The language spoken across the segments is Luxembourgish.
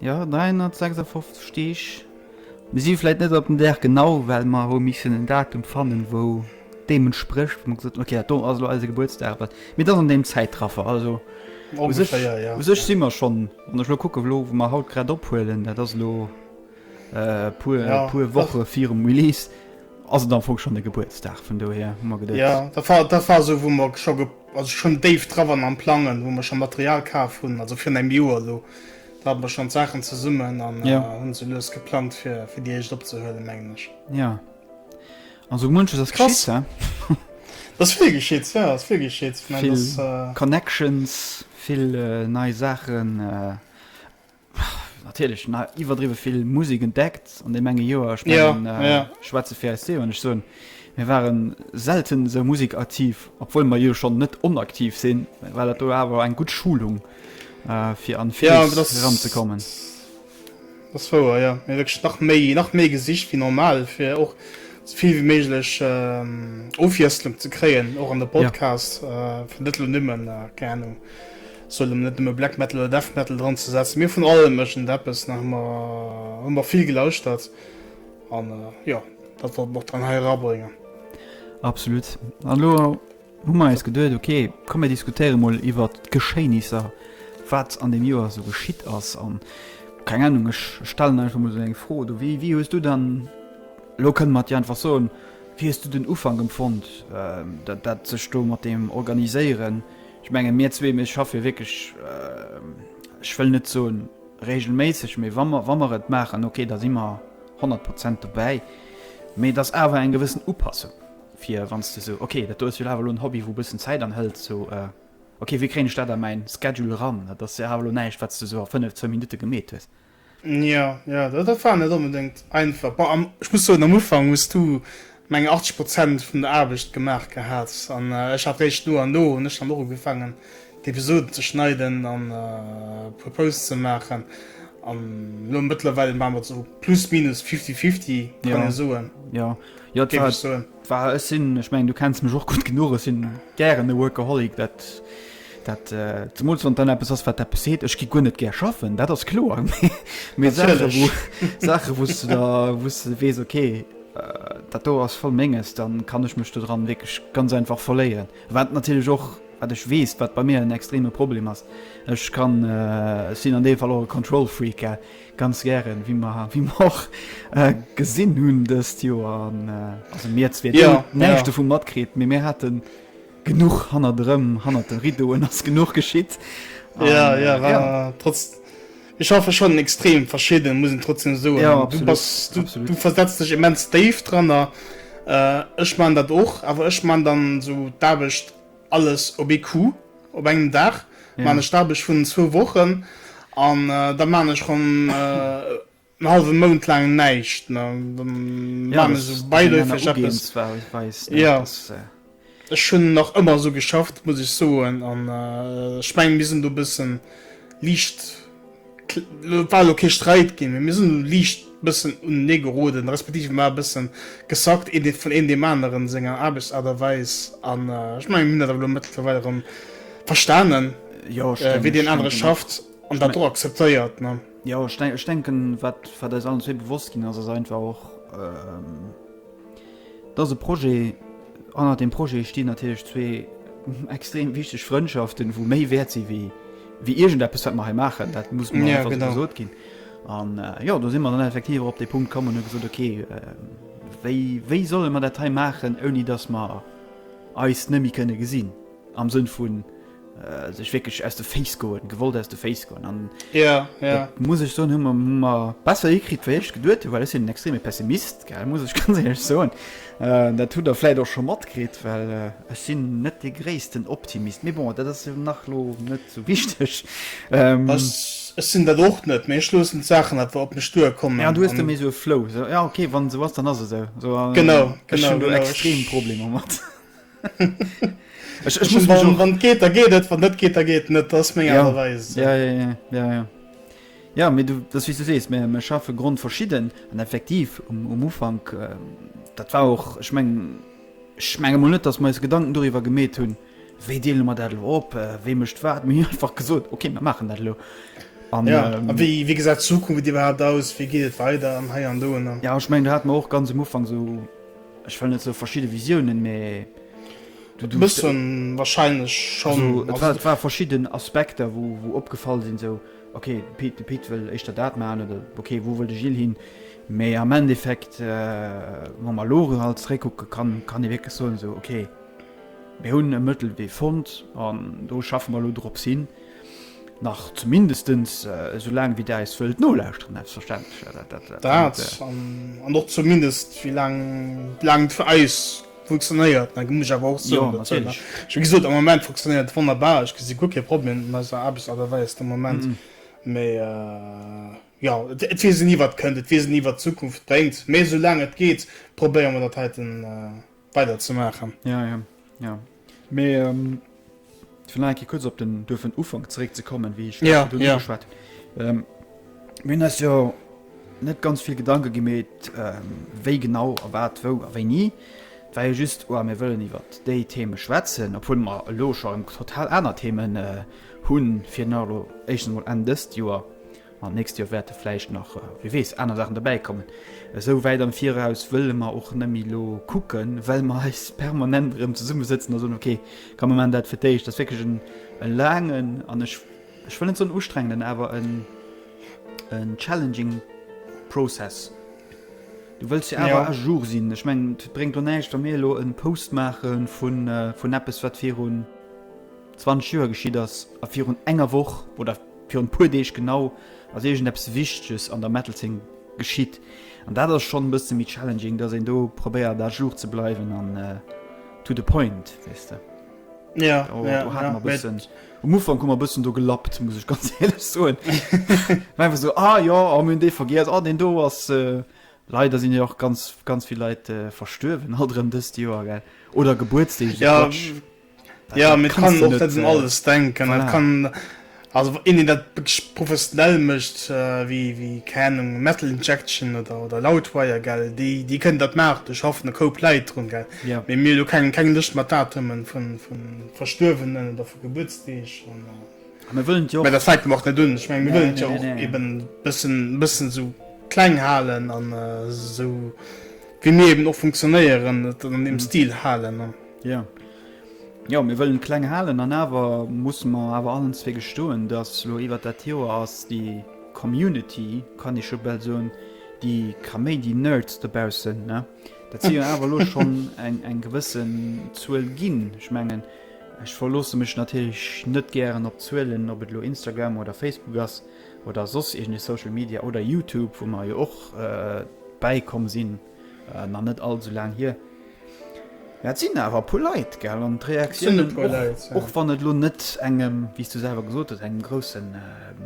Jo 356 Deeg. Mir si vläit net op den Dag genau, well mer hu missen en Datum fannen, wou deem entsprécht, wou mer gesot hunn, okay, dat do ass elo eise Gebuertsdag, wat, mee et ass an deem Zäitraffer. Also u sech, u sech si mer schonn, wann ech elo kucken, elo wou mer haut grad ophuelen, dat ass elo e puer, e puer Woche virum Release, ass et am Fong schonn de Gebuertsdag. Vun dohier hu mer geduecht. Jo, dat war, dat war esou, wou mer scho. Also schon déif dra waren am plangen wou mer schon Material kaaf hun, also virun engem Joer elo, do hate mer schon d'Saachen zesummen an hun se lues geplangt fir fir déi éischt opzehuelen mengen ech. Jo an sou munches ass geschitt he. Et ass vill geschitt, jo et ass vill geschitt. Vill Connections, vill nei Saachen. Natierlech na iwwerdriwwe vill Musek entdeckt an deem enge Joer. Ech Ja, mengen, äh, ja. ech schwätze fir eis zwee, wann ech soen, mir waren selten esou musekaktiv, obwuel mer jo schonn net onaktiv sinn, war dat do awer eng gutt Schulung, äh, fir an Ja, Fluss dat eranzekommen. ass wouer, jo. Mir hu wierklech nach méi, nach méi gesicht wéi normal, fir och esou vill wéi méiglech, ähm, Ofwiesslung ze kréien, och an de Ja. Podcast, äh, fir net elo nëmmen, äh, keng Ahnung, Soll emmer net nëmme Black Metal oder Death Metal dran ze setzen, mee vun allem iergend eppes nach. Mer hu mer vill gelauschtert an jo, dat wollt mer och dann hei erabréngen. Absolut. An elo hu mer eis geduet, ok, komm mir diskutéiere mol iwwert d'Geschéinisser, wat an deem Joer esou geschitt ass an, keng Ahnung, ech stellen einfach mol esou eng Fro, du, wéi, wéi hues du dann, elo kënne mer et jo einfach soen, wéi hues du den Ufank empfonnt, dat, dat sech do mat deem Organiséieren, Ech menge mir zwee, mir schaffe jo wierklech, ech wëll net soen regelméisseg, mee wa mer, wa mer et maachen, okay, da si mer honnert Prozent dobäi. Mee et ass awer eng gewëssen Upassung, fir wann s de esou, okay, dat do ass jo awer elo en Hobby, wou e bëssen Zäit anhëlt, sou, okay, wéi kréien ech dat a mäin Schedule eran? Dat ass jo awer elo näischt, wat s de esou a fënnef, zwou Minutte gemeet hues. Jo, jo, dat dat war net onbedéngt einfach. Bon, am ech muss soen, am Ufank hues du, meng ech, 80 Prozent vun der Aarbecht gemaach gehat an ech hat réischt no an no hunn ech dann och ugefaangen, d'Episoden ze schneiden an e puer Posts ze maachen an elo mëttlerweil maache mer et esou plus minus fifty fifty, kann ee soen, Jo, jo, et géif war ech soen. War, ech sinn, ech mengen du kenns mech och gutt genuch, ech sinn gären e Workaholic, dat, dat, zemools wann et dann eppes ass wat eppes heet, ech gi guer net gär schaffen, dat ass kloer, mee, mee Saache wou, Saache wou s de da, wou s de weess ok, dat do ass voll Menges, dann kann ech mech do dran wierklech ganz einfach verléieren. Wat natierlech och, wat ech weess, wat bei mir en extreme Problem ass, ech kann, ech sinn an deem Fall och e Control Freak, Ganz gären, wéi mer wéi mer och gesinn hunn dëst Joer, an also mir zwee, dir hutt näischt dovu matkritt, mee mir hate genuch hannert erëm, hannert de Riddoen ass genuch geschitt. Jo, jo, war trotz, ech schaffe schonn extrem verschidden, muss een trotzdem soen. Jo, absolut. Du bass, du, absolut. du versetzt dech immens déif dranner. Ech man dat och, awer ech man dann esou d'Aarbecht. Alles op ee Coup, op engem Dag maan ech d'Aarbecht vun zwou Wochen an da maan ech rem en halwen Mount laang näischt, dann maan ech esou bäiläufeg eppes. Jo, ech hunn nach ëmmer esou geschafft muss ech soen an ech mengen mir sinn do e bëssen liicht war elo kee Sträit ginn, mee mir sinn elo liicht bëssen unenee geroden, respektiv mir e bëssen gesackt, een vun een deem aneren senger Aarbechtsaart a Weis. An ech menge mir hunn dat awer elo mëttlerweil erëm verstanen, wéi deen anere schafft an dat och akzeptéiert, ne? Jo, ech denken, wat eis allen zwee bewosst ginn ass, ass einfach och, Et ass e Projet, hannert deem Projet stinn natierlech zwee extrem wichteg Frëndschaften, wou méi wäert sinn, wéi iergendeppes, wat mer hei maachen. Dat muss emol einfach esou gesot ginn. An jo, do si mer dann effektiv och op dee Punkt komm an hu gesot, Okay, wéi solle mer dat hei maachen, ouni datt mer eis net méi kënne gesinn? Am Sënn vun sech wierklech aus de Féiss goen, gewollt aus de Féiss goen. An dat muss ech soen, hu mer besser hikritt, wéi ech geduet hunn, well ech sinn en extreme Pessimist, muss ech ganz éierlech soen. Dat hutt Der vläicht och scho matkritt, well ech sinn net dee gréissten Optimist. Mee bon, dat ass jo nach elo net esou wichteg. Ech sinn dat och net, mee ech loossen d'Saachen einfach op mech duerkommen. Jo, du hues da méi esou e Flow. Jo, okay, wann esou ass, dann ass et esou. Genau. Ech hunn do extrem Problemer mat. ech, ech muss wann, wann geht da geht et wann net geht da geht net das meng ja. Weis, ja, ja, ja, ja, ja. ja mir du das wie du sees mir, mir schaffe grund verschieden an effektiv um, um ufang äh, dat war auch ich meng schmenge mal net dass me gedanken darüber gemäht hun we de immer dat op äh, we mecht wat mir einfach gesot okay wir machen dat lo An, ja, ähm, wie, wie gesagt Zukunft die war aus wie geht weiter an he an do ja ich mein hat man auch ganz im Ufang so Ech well net sou verschidde Visiounen, mee du du. Bësse wahrscheinlech schonn. Also et war et war verschidden Aspekter wou wou opgefall sinn, sou ok de Pit de Pit wëll éischter dat maachen oder ok wou wëll de Gilles hin. Mee am Endeffekt wa mer elo reralt zeréckkucke kann kann ee wierklech soen, sou ok mir hunn e Mëttelwee fonnt an do schaffe mer elo drop hin. Nach zumindestens esou laang wéi der eis wëllt nolauschteren selbstverständlech. Dat an och zumindest wéi laang et fir eis funktionéiert, dat muss ech awer och soen. Wéi gesot, am Moment funktionéiert et wonnerbar, ech gesi guer kee Problem mat eiser Aarbechtsaart a Weis de Moment. Mee jo, et weess een ni wat kënnt, et weess een ni wat d'Zukunft bréngt. Mee esou laang et geet probéiere mer dat heiten. weider ze maachen. Ja, ja, ja. Mee ähm, vun enke kurz op den duerfen Ufang zeréck ze kommen, wéi ech ja, ja. geschwat. Ähm, Min ass jo net ganz vill Gedanke gemet, ähm, wéi genau a wat wou a wéi nie. Wei jo just oh, mir wëllen iwwer déi Theme schwätzen, op hunn mar elo scho total aner Themen äh, hunn fir Nalo Echen mod en dëst Joer An d'nächst Joer wäerte vläicht nach, wie weess, aner Saachen derbäi kommen. Esou wäit am Viraus wëlle mer och net méi elo kucken, well mer eis permanent erëm zesummesëtzen a soen, ok, komm mer maachen dat fir d'éischt. Dat ass wierklech e laangen an, ech wëll net soen ustrengenden, awer en challenging Process. Du wëlls jo awer à jour sinn. Ech mengen, et bréngt och näischt, wa mir elo e Post maache vun eppes, wat virun. 20 Joer geschitt ass a virun enger Woch, oder virun e puer Deeg genau, ass iergendeppes Wichteges an der Metal-Zeen geschitt. An dat ass schonn e bësse méi challenging, dass een do probéiert à jour ze bleiwen an to the point, weess de. Jo, jo, jo, jo. Um Ufank hu mer e bëssen do gelappt, muss ech ganz éierlech soen. War einfach esou, ah jo, ah mir hunn dee vergiess, ah deen do ass. Leider sinn jo och ganz, ganz vill Leit verstuerwen alt erëm dëst Joer, gell, oder Gebuertsdeeg, esou Quatsch. Ja, mir kann och net un alles denken. Dat kann also een, deen dat wierklech professionell mécht, wéi, wéi keng Ahnung, Metal Injection oder, oder Loudwire, gell, déi, déi kënnen dat maachen, do schaffen e Koup Leit drun, gell, mee mir hu lo keng, keng Lëscht mat Datumen vu, vu Verstuerwenen oder vu Gebuertsdeeg an, mä dat fänkt och net un. Ech meng, mir wëllen et jo och eben e bëssen, e bëssen esou kleng halen an esou wéi mir eben och funktionéieren, et an deem Stil halen. Jo, jo, mir wëllen et kleng halen an awer musse mer awer allen zwee gestoen, dass lo iwwert dat Joer ass déi Community, kann ee scho bal soen, déi Kaméidi-Nerds dobaussen, ne, dat si jo awer lo schonn eng, eng gewësse Zuel ginn. Ech mengen, ech verloosse mech natierlech net gären op Zuelen, ob et lo Instagram oder Facebook ass oder soss iergend ee Social Media oder Youtube, wou mer jo och bäikomm sinn. Nach net all sou laang hier. Mä et sinn awer e puer Leit, gell? An d'Reaktiounen, och wann et elo net engem, wéi s du selwer gesot hues, engem grousse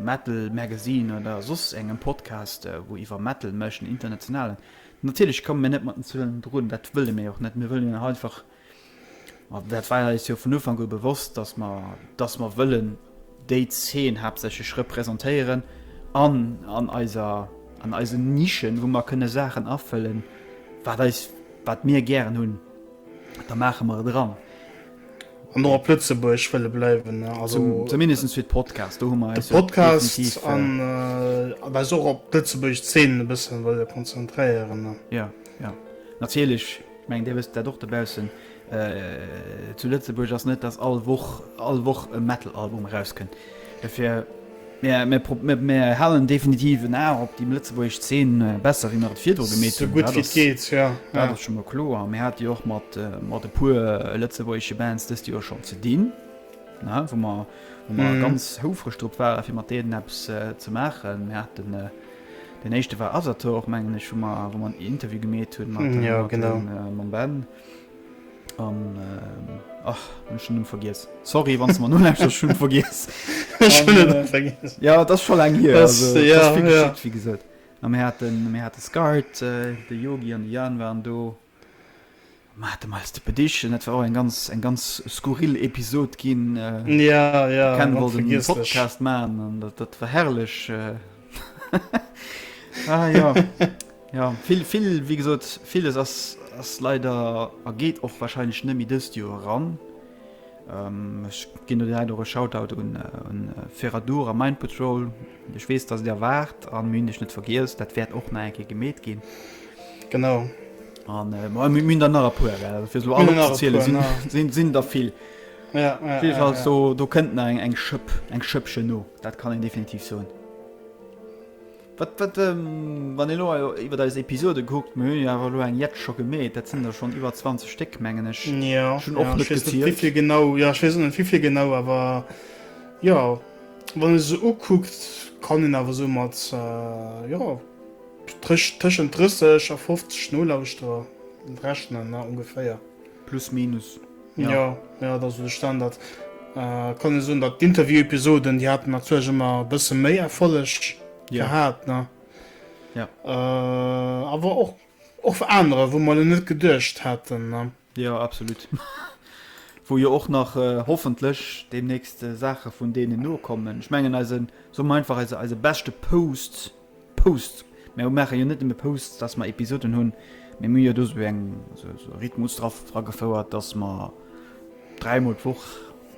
Metal-Magazine oder soss engem Podcast, wou iwwer Metal mécht, en internationalen, natierlech komme mir net mat den Zuelen drun, dat wëlle mir jo och net. Mir wëllen jo nach einfach Ma dat war eis jo vun Ufank u bewosst, dass mer, dass mer wëllen déi Zeen haaptsächlech repräsentéieren an an eiser, an eisen Nischen, wou mer kënne Saachen afëllen, wat eis, wat mir gären hunn, da maache mer et eran. An och op Lëtzebuerg wëlle bleiwen. Also zumindest fir d'Podcast, do hu mer eis jo definitiv. D'Podcast an eis och op d'Lëtzebuerg Zeen e bësse wëlle konzentréieren. Jo, jo, natierlech. Ech mengen, Dir wësst dat och dobaussen. Zu Lëtzebuerg ass net, dass all Woch, all Woch e Metal-Album erauskënnt. Dofir, mir, mir halen definitiv en A op déi lëtzebuergesch Zeen, besser wéi mer et virdru gemeet hunn. Esou gutt wéi et geet, jo. Dat ass scho mol kloer. A mir hate jo och mat, mat e puer lëtzebuergesche Bands dëst Joer schonn ze dinn, ne, wou mer, wou mer ganz houfreg drop waren, fir mat deenen eppes ze maachen. Mir haten. Den éischte war Asator, mengen ech, wou mer, wou mer en Interview gemeet hunn mat, mat dem, genau. Äh, mam Ben. An, äh, ach, hun schon Numm vergiess. Sorry, wann du mer nun einfach schon vergiess. Ech hun et äh, vergiess. Ja, dat ass scho laang hier. Das, also, ja, das ja. Geschickt, wie gesot. An mir hatten, mir hatten Skart, äh, de Yogi an de Jan waren do. Mer hate mei de Pediche, dat war och eng ganz eng ganz skurril Episod ginn. Ja, ja, Ken wollt en Podcast maachen an dat, dat war herrlech. ah, ja. ja vill vill wéi gesot, villes ass ass leider a geet och warscheinlech net méi dëst Joer eran. Ech ginn do direkt och e Shoutout un Ferradur a Mind Patrol. Ech weess, datt et der waart a mir hunn iech net vergiess. Dat wäert och nach eng Kéier gemeet ginn. Genau. An mir hunn der nach e puer, well fir se elo all opzezielen, sinn der vill. Op jidde Fall, do kënnt nach eng Schëpp, eng Schëppchen no, dat kann een definitiv soen. Wat, wat, ähm, wann ee lo jo iwwert eis Episode kuckt, mir hunn jo awer elo eng jett scho gemeet, dat sinn der schonn iwwer 20 Stéck, mengen ech. Jo, Schon och ja, net ech weess net, gezielt. wivill genau, ja, ech weess och net, wivill genau, awer jo, wann ee se sou ukuckt, kann een awer sou mat, äh, jo, tësch, tëschent 30 a 50 Nolauschterer rechnen, ne, ongeféier. Plus minus, jo. Jo, jo, et ass esou de Standard. Et kann ee soen, datt d'Interview-Episoden, déi haten natierlech ëmmer e bësse méi Erfolleg gehat, ne? Jo. Awer och, och anerer, wou mer elo net geduecht haten, ne? Jo, absolut. Wou jo och nach hoffentlech deemnächst Saache vun deenen nokommen. Ech mengen eise, soe mer einfach, eise beschte Post Posts, mer maache jo net nëmme Posts, dass mer Episoden hunn, mee mir hu jo do sou eng sou e Rhythmus dragefouert, dass mer dräi mol d'Woch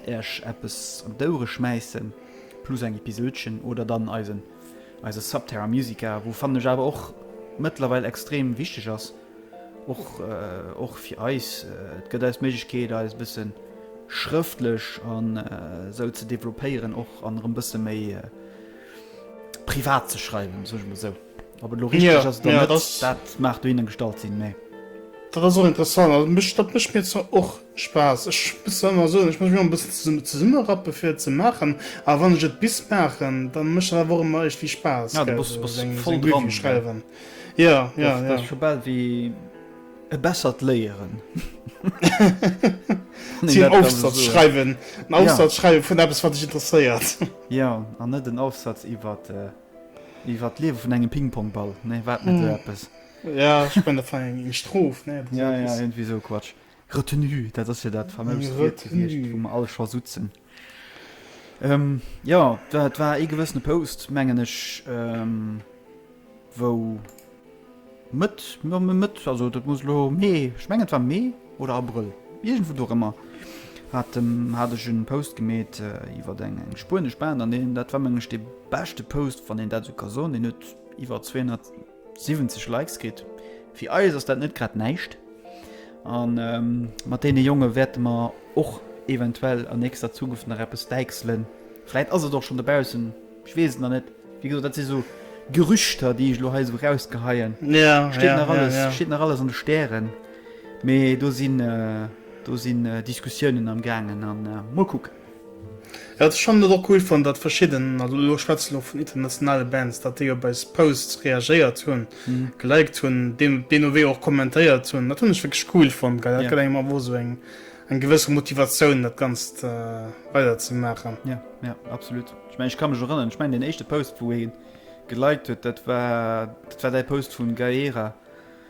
iech eppes an d'Ouere schmäissen, plus eng Episodchen oder dann eisen eise Subterra Musica, wou fannen ech awer och mëttlerweil extrem wichteg ass, och och fir eis, et gëtt eis d'Méiglechkeet eis e bësse schrëftlech an esou ze developpéieren och an erëm bësse méi Privat ze schreiwen sech me sou op et lo richteg ass dat dat maach du hinnen gestalt sinn nee. Dat ass och interessant also mech dat mech mir zwar och Spaass ech bis ëmmer soen ech mech mir e bëssen zesumme rappe fir ze maachen a wann ech et bis maachen da mech dat wor ëmmer ech wie Spaass ja du bass bass voll dran schreiwen ja ja ja scho bal wéi. E bessert Léieren. Si en Ofsatz schreiwen. En Ofsatz schreiwe vun eppes, wat dech interesséiert. Jo, an net en Ofsatz iwwer d'Liewe vun engem Pingpongball. Nee, war et net esou eppes? Jo, ech mengen, dat war eng Strof, ne? Jo, jo, iergendwéi esou e Quatsch. Retenue, dat ass jo dat faméist Wuert gewiescht, wou mer all scho sutzen. Jo, dat war ee gewëssene Post, mengen ech, wou Mëtt, jo Mëtt, also dat muss elo Mee, ech mengen et war Mee oder Abrëll, iergendwou dorëmmer hat de, hat ech e Post gemeet iwwer eng spuenesch Band an deen, dat war meng ech dee beschte Post, wann een dat esou ka soen, deen huet iwwer 200, 70 Likes kritt. Fir eis ass dat net grad näischt. An mat deene Jonge wäerte mer och eventuell an nächster Zukunft nach eppes däichselen. Vläit ass et och schonn dobaussen, ech weess et nach net. Wéi gesot, dat si sou Gerüchter, déi ech elo hei esou erausgeheien. Steet nach alles, steet nach alles an de Stären. Mee do sinn, do sinn Diskussiounen am Gaangen a mol kucken. Jo, schonn net och cool fonnt, datt verschidden, also elo schwätze elo vun internationale Bands, datt déi op eis Posts reagéiert hunn, geliked hunn, deen Owee och kommentéiert hunn. Dat hunn ech wierklech cool fonnt, well dat gëtt engem awer och esou eng gewësse Motivatioun, dat Ganzt weider ze maachen. Jo, jo, absolut. Ech mengen, ech ka mech erënneren, ech mengen deen éischte Post, wou ee geliked huet, dat war, dat war däi Post vun Gaera.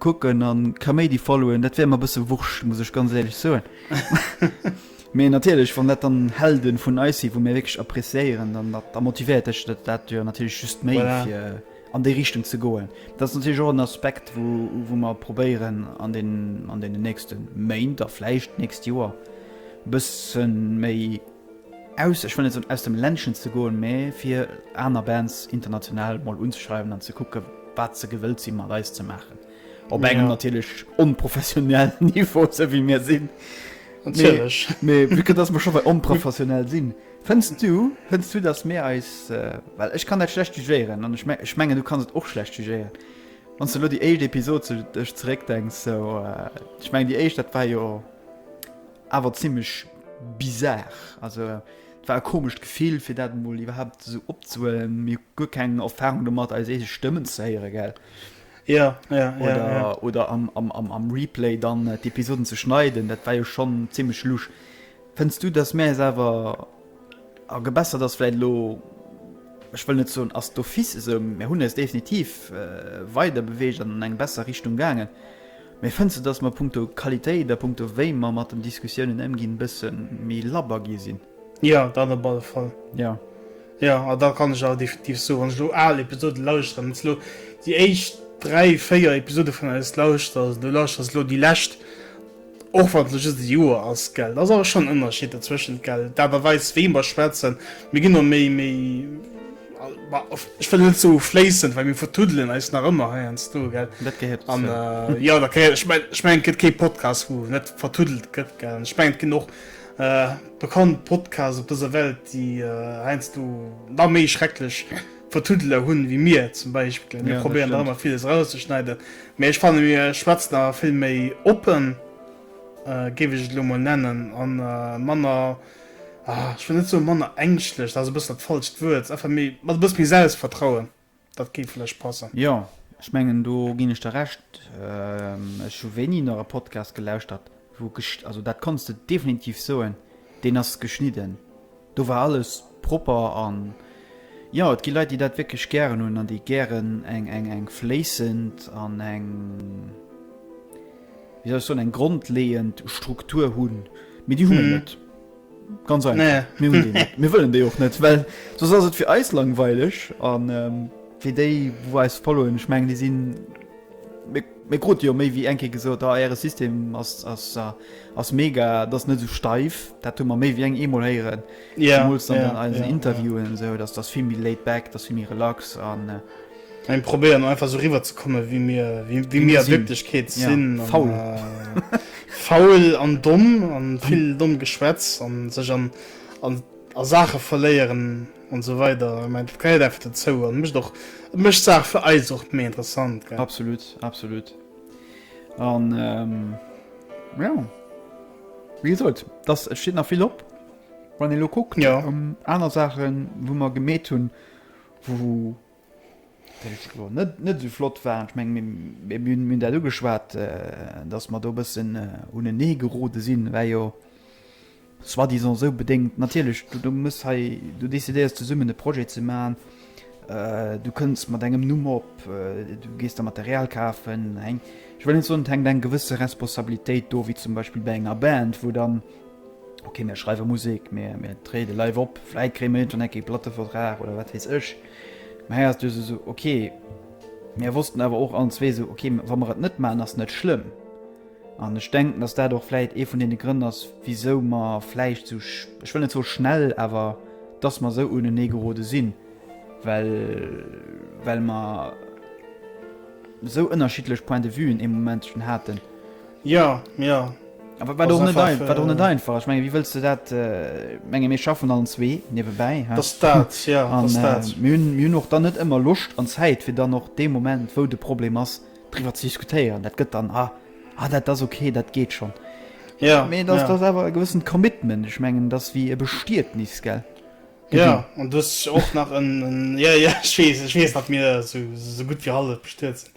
Kucken an Kaméidi followen, dat wär mer bëssen wurscht, muss ech ganz éierlech soen. Mee natierlech, wann dat dann Helden vun eis sinn, wou mir wierklech appréciéieren, dann da motivéiert dech dat jo natierlech just méi fir an déi Richtung ze goen. Dat ass natierlech och en Aspekt, wou mer probéieren an deenen nächste Méint a vläicht d'nächst Joer bëssen méi. Aus, ech wëll net soen aus dem Ländchen ze goen, mä fir aner Bands international mol unzeschreiwen an ze kucke wat se gewëllt si mat eis ze maachen. Op engem natierlech onprofessionellen Niveau, esou wéi mir sinn. Natierlech. Mee vue que dass mer scho bei onprofessionell sinn, fënns du, fënns du dass mir eis, well ech kann dat schlecht jugéieren an ech mengen du kanns et och schlecht jugéieren, wann s de elo déi éischt Episod sou dech zeréckdenks, sou, ech mengen déi éischt dat war jo Awer zimlech bizar, also et war e komescht Gefill fir dat emol iwwerhaapt esou opzehuelen. Mir hu guer keng Erfarung domat eis eege Stëmmen ze héiere, gell? Jo, jo, jo. Oder am Replay dann d'Episoden ze schneiden, dat war jo schonn zimlech lusch. Fënns du dass mäis awer a gebessert ass? Vläit elo, ech wëll net soen ass d'office esou, mä hunn eis definitiv weider beweegt an an eng besser Richtung gaangen. Mee fënns de, dass mer punkto Qualitéit a punkto wéi mer mat den Diskussiounen ëmginn, e bësse méi labber gi sinn? Jo, dat op alle Fall. Jo. Jo, a da kann ech awer definitiv soen, wann ech elo al Episoden lauschteren, wann s de elo déi éischt dräi, véier Episode vun eis lauschters, an du lauschters elo déi lescht, och wann et elo just e Joer ass, gell, da ass awer schonn en Ënnerschied dozwëschent, gell, d'Aart a Weis, wéi mer schwätzen, mir ginn och méi, méi. Ech wëll net sou fléissend, well mir vertuddelen eis nach ëmmer heiansdo, gell? Dat gehéiert dozou. An, jo, dat gehéiert, ech mengen, ech mengen, et gëtt kee Podcast, wou net vertuddelt gëtt, gell? An ech mengen, et ginn och bekannt Podcasts op dëser Welt, déi heiansdo nach méi schrecklech Vertuddeler hunn wéi mir zum Beispill. Mir probéieren nach ëmmer villes erauszeschneiden, mä ech fanne mir schwätzen awer vill méi oppen, géif ech et elo emol nennen, a manner. ah ech wëll net soe manner ängschtlech, dat ass e bëssen dat falscht Wuert, einfach méi, mat e bësse méi Selbstvertrauen, dat géif vläicht passen. Jo, ech mengen do ginn ech der Recht. Ech hu wéini nach e Podcast gelauschtert wou gesch-, also dat kanns de definitiv soen, deen ass geschnidden, do war alles propper an jo, et gi Leit déi dat wierklech gären hunn an déi gären eng, eng, eng fléissend an eng. wéi soll ech soen, eng grondleeënd Struktur hunn, mee déi hu mir net. Ganz einfach. Nee. Mir hunn déi net. Mir wëllen déi och net, well soss ass et fir eis langweileg an fir déi wou eis followen, ech mengen déi sinn, mir mir krute jo méi wéi eng Kéier gesot, ah äre System ass ass ass mega, et ass net esou steif, dat hu mer méi wéi eng eemol héieren, zemools dann an eisen Interviewen esou, dass dass vill méi laid back, dass vill méi relax an. Mä mir probéieren einfach esou eriwwer ze kommen, wéi mir a Wierklechkeet sinn, faul, faul an domm a vill dommt Geschwätz a sech a Saache verléieren an esou weider. Ech mengen, dat gehéiert einfach dozou an mécht och, et mécht d'Saach fir eis och méi interessant, gell? Absolut, absolut. A jo, wéi gesot, et steet nach vill op. Wann een elo kuckt, aner Saachen, wou mer gemeet hunn, wou. net esou flott waren. Ech menge mir hunn dat ugeschwat, datt mer do e bëssen unenee gerode sinn, war jo soi-disant esou bedéngt. Natierlech, du muss hei, du decidéiers zesummen e Projet ze maachen, du kënns mat engem Numm op, du gees da Material kafen, ech wëll net soen, et hänkt eng gewësse Responsabilitéit do, wéi zum Beispill bei enger Band, wou dann. Ok mir schreiwe Musek, mir mir tréide live op, vläit kréie mir iergendwann enk ee Plattevertrag oder wat weess ech. Mä hei ass du se esou, ok. Mir wossten awer och allen zwee esou, ok wa mer et net maachen, ass net schlëmm. An ech denken, datt dat och vläit ee vun deene Grënn ass, wisou mer vläicht esou, ech wëll net soe schnell, awer datt mer esou unenee gerode sinn, well well mer esou ënnerschiddlech Point de vuen ee Momentchen haten. Jo, jo. A wat och net einfach, wat och net einfach ass. Ech menge wéi wëlls de dat, ech menge mir schaffen allen zwee niewebäi, dat ass dat, jo, dat ass dat. An mir hunn, mir hunn och dann net ëmmer Loscht an Zäit fir dann och dee Moment wou de Problem ass driwwer ze diskutéieren. Dat gëtt dann, ah, ah dat ass ok, dat geet schonn. Jo, jo. Mee dat ass, dat ass awer e gewëssent Commitment, ech mengen dat ass wéi e Bestietnis, gell? Jo, an du hues och nach en, en, jo, jo, ech weess, ech weess datt mir esou, esou gutt wéi hallef bestuet sinn.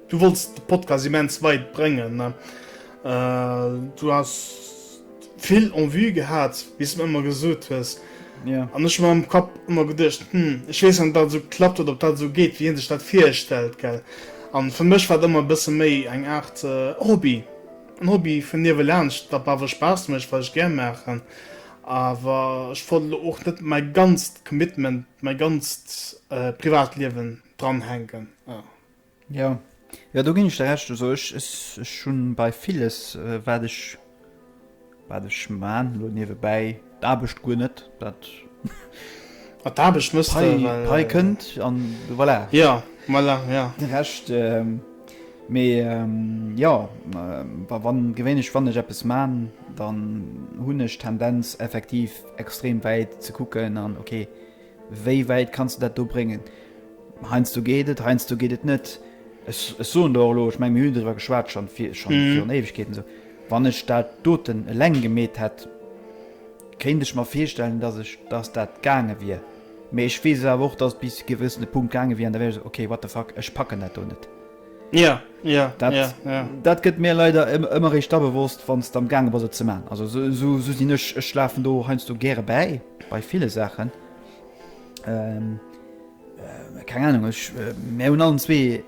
Du wolls de Podcast immens weit bréngen. Du has vill en vue gehat, wéi s de mer ëmmer gesot hues. An ech hu mer am Kapp ëmmer geduecht, Hm, ech weess net, ob dat esou klappt oder ob dat esou geet, wéi hien sech dat virstellt. Gell? A fir mech war et ëmmer e bësse méi eng Aart Hobby. En Hobby vun niewelaanscht, wat mer awer Spaass mécht, wat ech gär maachen. Awer ech wollt elo och net mäi ganzt Commitment, mäi ganzt Privatliewen dranhänken. Jo, jo do ginn ech der Recht. Also ech ech hunn bei villes wat ech wat ech maan elo niewebäi d'Aarbecht guer net dat Mat d'Aarbecht mëss de hei well hei kënnt an voilà Jo, voilà, jo. de Recht. Mee jo, wa wann gewéinlech wann ech eppes maan, dann hunn ech d'Tendenz effektiv extrem wäit ze kucken an ok Wéi wäit kanns de dat do bréngen? Heiansdo geet et, heiansdo geet et net. Ech soen der och elo, ech menge mir hunn driwwer geschwat schonn virun Éiwegkeeten esou, wann ech dat doten eleng gemeet hätt, kéint ech mer virstellen, datt dat gaange wier. Mee ech weess awer och, datt et bis e gewëssene Punkt gaange wier an da wär ech esou, okay, what the fuck, ech packen dat do net. Ja, ja, dat, ja, ja. Dat gëtt mir leider ëmmer réischt da bewosst, wann s de am gaange bass et ze man. Also sou sou sou sinn ech, ech lafen do heiansdo gäre bäi, bei ville Saachen. Ähm, äh, keng Ahnung, ech, äh, mir hunn allen zwee,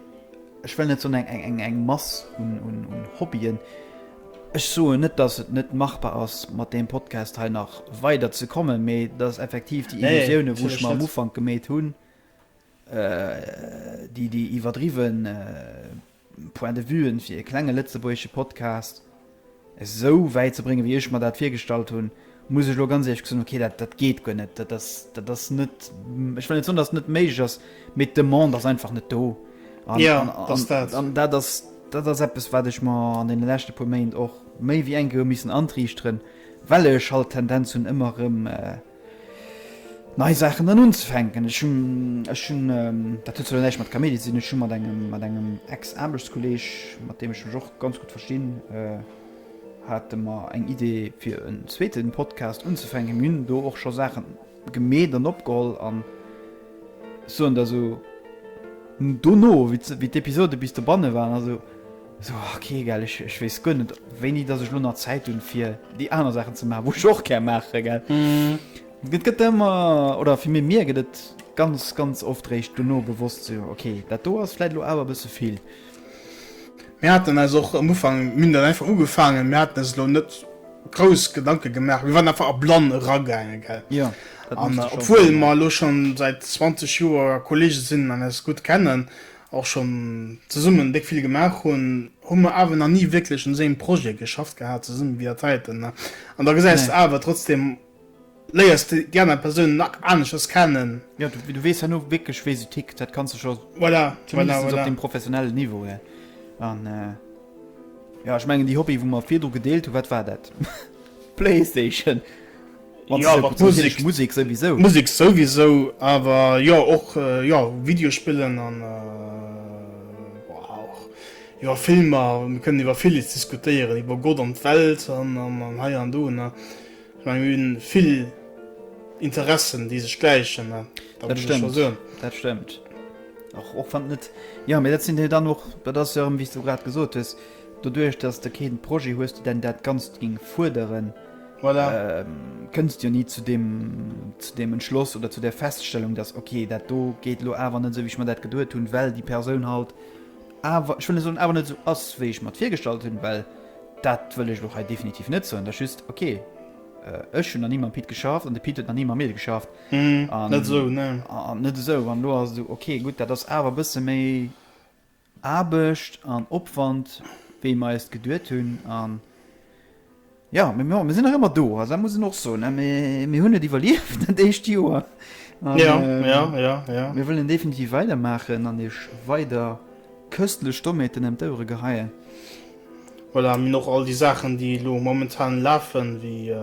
ech wëll net soen eng eng eng eng Mass un un un Hobbyen. Ech soen net, datt et net machbar ass mat deem Podcast hei nach weider ze kommen, mee datt effektiv déi Nee, Illusioune wou ech natierlech mer am net. Ufank gemeet hunn, Déi déi iwwerdriwwen Point de Vue'en fir ee klenge lëtzebuergesche Podcast esou wäit ze bréngen wéi ech mer dat virgestallt hunn, muss ech elo ganz éierlech gesot hunn, ok dat dat geet guer net, dat ass dat ass net, ech wëll net soen, dass et net méiglech ass, mee d'Demande ass einfach net do an an dat ass dat ass eppes wat ech mer an deene leschte puer Méint och méi wéi eng Kéier hu missen antriichteren, well ech halt d'Tendenz hunn ëmmer erëm. nei Saachen an unzefänken. Ech hunn, ech hunn, dat huet zwar elo näischt mat Kaméidi ze dinn, ech hu mat engem, mat engem Ex-Aarbechtskolleeg, mat deem ech mech och ganz gutt verstinn, hate mer eng Idee fir en zweete Podcast unzefänken. Mir hunn do och scho Saache gemeet an opgeholl an ech soen der esou, dono wéi d'Episode bis dobanne waren, also, So, ok, gell, ech, ech weess guer net, wéini dass ech lo nach Zäit hunn, fir déi aner Saachen ze maachen, wou ech och gär maachen, gell. Et gëtt ëmmer, oder fir méi mir gëtt et ganz, ganz oft réischt dono bewosst, so, ok, dat do ass vläit lo awer e bësse vill. Mir haten eis och am Ufank, mir hunn dat einfach ugefaangen, mir haten eis elo net grouss Gedanke gemaach, mir waren einfach erblann eragaangen, gell. Jo, dat muss de schonn soen, ja. An obwuel mer elo schonn säit 20 Joer Kollege sinn an eis gutt kennen, och schonn zesummen déck vill gemaach hunn, hu mer awer nach ni wierklech un esou engem Projet geschafft gehat zesummen wéi dat heiten. An da gesäis de awer trotzdeem, léiers de déi aner Persounen nach aneschters kennen. Jo, du weess herno wierklech wéi se tickt, dat kanns de scho zumindestens op deem professionellen Niveau her. An jo, ech mengen déi Hobbye wou mer virdru gedeelt hunn, wat war dat? Playstation. Musek souwisou, awer jo och Videospillen an iwwer Filmer. Mir kënnen iwwer villes diskutéieren, iwwer Gott an d'Welt an hei an do. Ech mengen, mir hunn vill Interessen, déi sech gläichen. Dat stëmmt. Dat ass jo, wéi s du grad gesot hues, doduerch, datt s de kee Projet hues, deen dat Ganzt géing fuerderen. Voilà. Kënnst jo ni zu deem, zu deem Entschloss oder zu der Feststellung, dass okay, dat do geet elo awer net esou, wéi ech mer dat geduet hunn, well déi Persoun halt awer, ech wëll net soen, awer net esou ass, wéi ech mer d'virgestallt hunn, well dat wëll ech elo hei definitiv net soen. Dat ass just, okay, ech hunn nach ni mam Pit geschafft an de Pit huet nach ni mam mir geschafft. Net esou, ne. An net esou. An elo ass et esou, okay, gutt, dat ass awer e bësse méi Aarbecht an Opwand wéi mer eis geduet hunn an jo mee mir sinn nach ëmmer do, also dat muss een och soen, mee mir hunn et iwwerlieft dat éischt Joer an mir wëllen definitiv weidermaachen an iech weider köstlich Dommeten ëm d'Ouere geheien. Voilà, mir hunn och all déi Saachen, déi elo momentan lafen, wéi,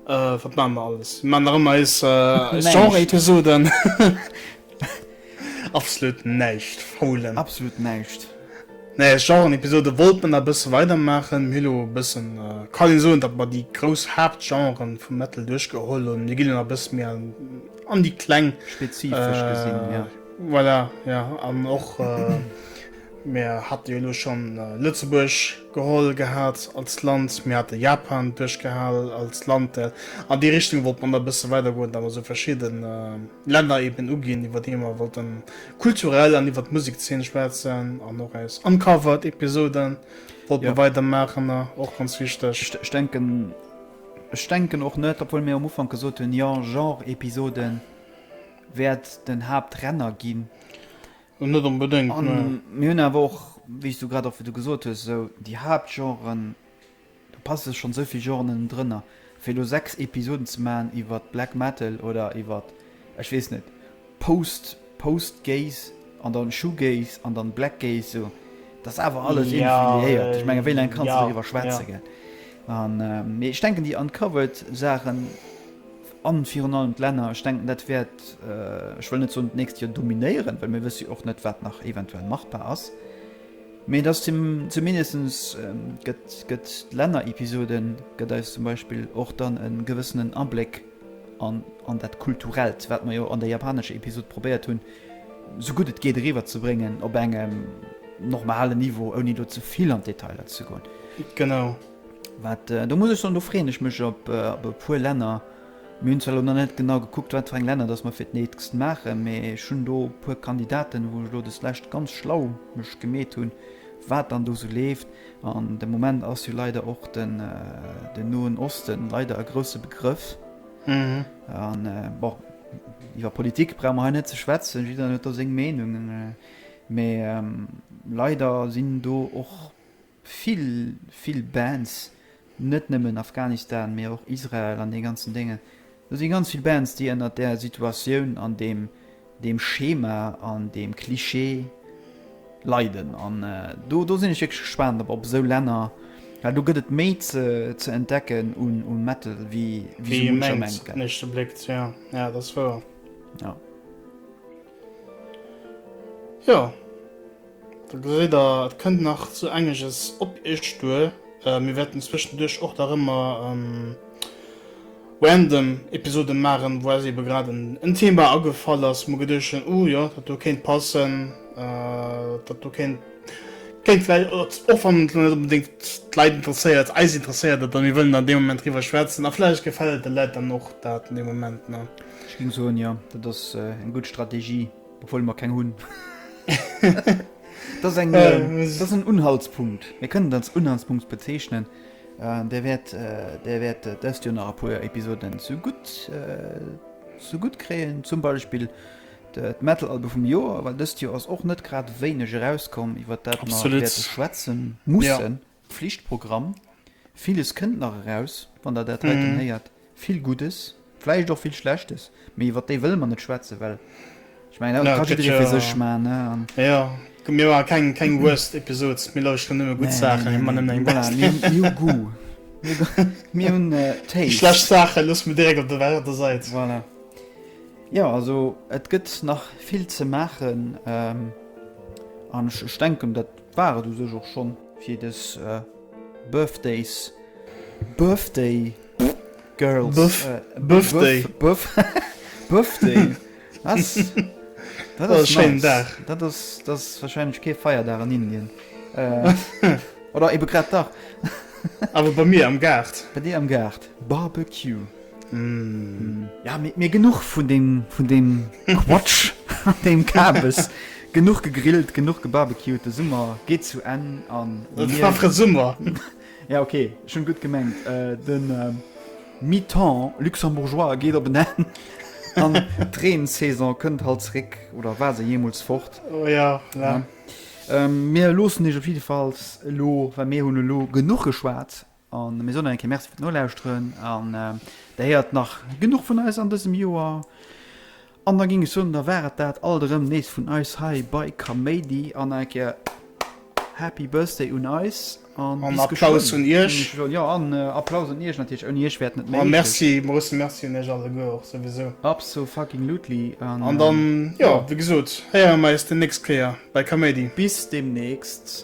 wat maache mer alles? Mir maachen nach ëmmer eis Genre-Episoden. Absolut näischt, faulen. Absolut näischt. Nee, eis Genre-Episoden wollt mer nach e bësse weidermaachen. Mir hu lo e bëssen, kann een soen, datt mer déi grouss Haaptgenren vum Metal duerchgeholl hunn. Mir ginn elo nach e bësse méi an déi kleng. Spezifesch gesinn, jo. Voilà, jo, an och. Mir hate jo elo schonn Lëtzebuerg geholl gehat als Land, mir hate Japan duerchgehal als Land, an déi Richtung wollt mer nach e bësse weidergoen, datt mer esou verschidde Länner eeben uginn, iwwer déi mer wollte kulturell an iwwer d'Musikszeen schwätzen an och eis Uncovered Episoden wollte mer weidermaachen, och ganz wichteg. Ech denken och net, obwuel mir um Ufank gesot hunn, jo, Genre-Episoden wäert den Haaptrenner ginn. Net onbedéngt, ne. A mir hunn awer och, wéi s du grad och wéi du gesot hues, esou déi Haaptgenren, do passe schonn esou vill Genren ënnendrënner, fir elo sechs Episoden ze maachen iwwer Black Metal oder iwwer, ech weess net, Post, Post-Gaze an dann Shoegaze an dann Black Gaze, esou, dat ass awer alles iergendwéi liéiert. Ech menge wéi laang kanns de doriwwer schwätze, gell? Mee ech denken déi Uncovered-Saachen. A virun allem d'Länner, ech denken, dat wäert, ech wëll net soen d'nächst Joer dominéieren, well mir wësse jo och net, wat nach eventuell machbar ass, mee et ass zumindest, gëtt, gëtt d'Lännerepisode gëtt eis zum Beispill och dann e gewëssenen Abléck an, an dat Kulturellt, wat mer jo an der japanescher Episode probéiert hunn, sou gutt et geet eriwwerzebréngen op engem normalen Niveau, ouni do ze vill an d'Detailer ze goen. Genau. Wat, do muss ech soen, do freeën ech mech op e puer Länner. Mir hunn zwar elo nach net genau gekuckt, wat fir eng Länner datt mer fir d'nächst maachen, mee ech hunn do e puer Kandidaten, wou ech elo des Lescht ganz schlau mech gemeet hunn, wat dann do esou leeft. An de Moment ass jo leider och den Noen Osten leider e grousse Begrëff. An, bon, iwwer Politik brauche mer hei net ze schwätzen, jiddereen huet do seng Meenung, mee leider sinn do och vill vill Bands, net nëmmen Afghanistan, mee och Israel an dee ganzen Déngen, do si ganz vill Bands, déi ënnert där Situatioun an deem deem Schema an deem Cliché leiden. An do do sinn ech wierklech gespaant op op esou Länner, well do gëtt et méi ze ze entdecken un u Metal, wéi wéi sou muncher mengt, gell? Ja, dat ass wouer. Jo. Do geséit der, et kënnt nach sou engeges op iech duer. Mir wäerten zwëschenduerch och nach ëmmer random Episoden maachen, wou eis eebe grad en Thema agefall ass, mol geduecht hunn, uh jo, dat do kéint passen, dat do kéint vläicht, och wann et elo net onbedéngt d'Leit interesséiert, eis interesséiert et a mir wëllen dann dee Moment driwwer schwätzen a vläicht gefält et de Läit dann och dat dee Moment. Ech géing soen, jo, dat ass eng gutt Strategie. obwohl mer keng hun das eng das en unhaltspunkt mir können als unhaltspunkt bezeichnen äh, der werd äh, der werd äh, das dir nach a puer episoden zu gut äh, zu gut kreen zum beispiel de metalalbe vum joer weil dëst jo ass och net grad wéineg erauskomm iwwer dat schwätzen mussen ja. Pflichtprogramm. Villes kënnt nach eraus, wann Der dat heiten héiert. Vill Guddes, vläicht och vill Schlechtes, mee iwwer déi wëlle mer net schwätzen, well ech mengen, dat ka jidderee fir sech maachen. Jo, mir maache keng Worst Episodes, mir lauschteren nëmme gutt Saachen, mir maachen nëmmen eng Best. Mir hu Goût, mir hunn Taste. Déi schlecht Saache loosse mir direkt op der Säit. Voilà. Jo, also et gëtt nach vill ze maachen an ech denken, dat War et u sech och schonn fir des Birthdays, Birthday Girls, Birthday, Birthday, dat ass schéinen Dag, dat ass warscheinlech kee Feierdag an Indien, oder ebe grad dach, awer bei mir am Gaart, bei dir am Gaart, Barbecue. Ja mit mir genug vun dem vun dem Quatsch an dem Kabes. Genug gegrillt, genug gebarbecued, de Summer geet zu Enn an Et mir- war fre Summer. Ja okay, ech hunn gutt gemengt. Den Mi-temps luxembourgeois geet op en Enn an d'Reen-Saison kënnt halt zeréck, oder war se jeemools fort? Oh ja, la. Mir loossen iech op jiddefalls elo, well mir hunn elo genuch geschwat, A mir soen nach eng Kéier Merci fir d'Nolauschteren an Der héiert nach genuch vun eis an dësem Joer. An da géing ech soen, da war et dat alt erëm nees vun eis hei bei Kaméidi. An nach eng Kéier Happy Birthday un eis a An bis Applaus geschwënn, un Iech. mengen ech elo. Jo, an Applaus un Iech natierlech, ouni Iech wär et net A méiglech. Merci, grousse Merci un Iech alleguer och souwisou. Abso-fucking-lutely an. An dann, jo, wéi gesot, héiere mer eis déi nächst Kéier bei Kaméidi. Bis deemnächst.